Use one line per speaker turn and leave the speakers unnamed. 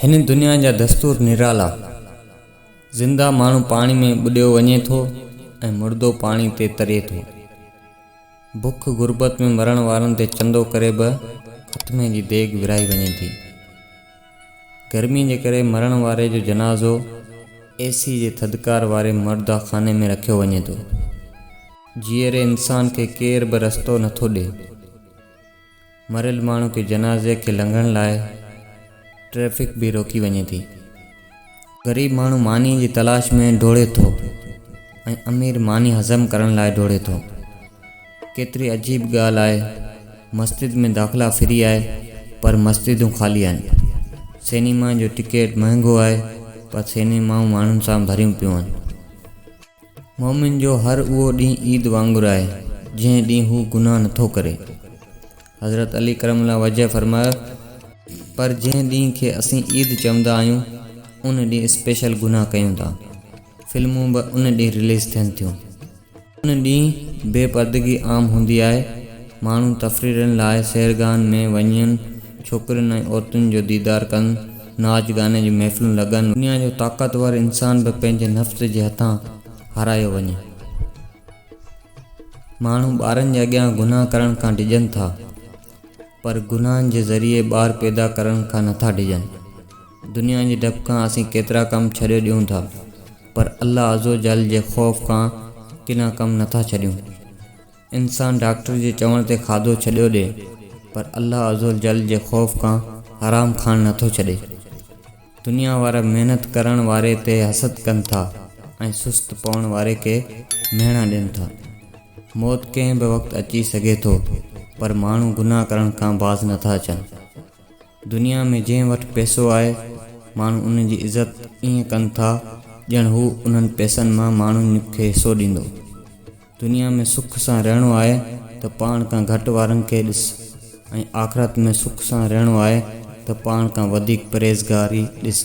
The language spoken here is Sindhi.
هن دنيا جا دستور نرالا. زنده ماڻهو پاڻي ۾ ٻڏيو وڃي ٿو ۽ مردو پاڻي تي تري ٿو. بک غربت ۾ مرڻ وارن تي چندو ڪري به ختمي جي ديڳ ورهائي وڃي ٿي. گرمي جي ڪري مرڻ واري جو جنازو اي سي جي ٿڌڪار واري مرده خاني ۾ رکيو وڃي ٿو. جيئري انسان کي ڪير به رستو نه ٿو ڏئي. مريل ماڻهو کي جنازي کي لنگهڻ لاء ٽريفڪ به روڪي وڃي ٿي. غريب ماڻهو ماني جي تلاش ۾ ڊوڙي ٿو ۽ امير ماني هضم ڪرڻ لاء ڊوڙي ٿو. ڪيتري عجيب ڳالهه آهي مسجد ۾ داخلا فري آهي پر مسجدون خالي آهن. سينيما جو ٽڪيٽ مهنگو آهي پر سينيمائون ماڻهن سان ڀريون پيون آهن. مؤمن جو هر اهو ڏينهن عيد وانگر آهي، جنهن ڏينهن هو گناهه نه ٿو ڪري. حضرت علي ڪرم الله وجهه فرمايو، پر جنهن ڏينهن کي اسين عيد چوندا آهيون، ان ڏينهن اسپيشل گناهه ڪيون ٿا. فلمون به ان ڏينهن رليز ٿين ٿيون. ان ڏينهن بي پردگي عام هوندي آهي. ماڻهو تفريرن لاء سيرگاهن ۾ وڃن. ڇوڪرين ۽ عورتن جو ديدار ڪن، ناچ گاني جون محفلون لڳن. دنيا جو طاقتور انسان به پنهنجي نفس جي هٿان هارايو وڃي. ماڻهو ٻارن جي اڳيان گناهه ڪرڻ کان ڊڄن ٿا، پر گناهن جي ذريعي ٻار پيدا ڪرڻ کان نٿا ڊڄن. دنيا جي ڊپ کان اسين ڪيترا ڪم ڇڏي ڏيون ٿا، پر الله عزّوجلّ جي خوف کان ڪنا ڪم نٿا ڇڏيون. انسان ڊاڪٽر جي چوڻ تي کاڌو ڇڏيو ڏي پر الله عزوجل جي خوف کان حرام کائڻ نٿو ڇڏي. دنيا وارا محنت ڪرڻ واري تي حسد ڪن ٿا ۽ سست پوڻ واري کي مهڻا ڏين ٿا. موت ڪنهن به وقت اچي سگهي ٿو پر ماڻهو گناهه ڪرڻ کان باز نٿا اچن. دنيا ۾ جنهن وٽ پئسو آهي ماڻهو ان جي عزت ائين ڪن ٿا ڄڻ هو انهن پئسن مان ماڻهن کي حصو ڏيندو. دنيا ۾ سک سان رهڻو آهي ته پاڻ کان گهٽ وارن کي ڏس ۽ آخرت ۾ سک سان رهڻو آهي ته پاڻ کان وڌيڪ پرهيزگار ئي ڏس.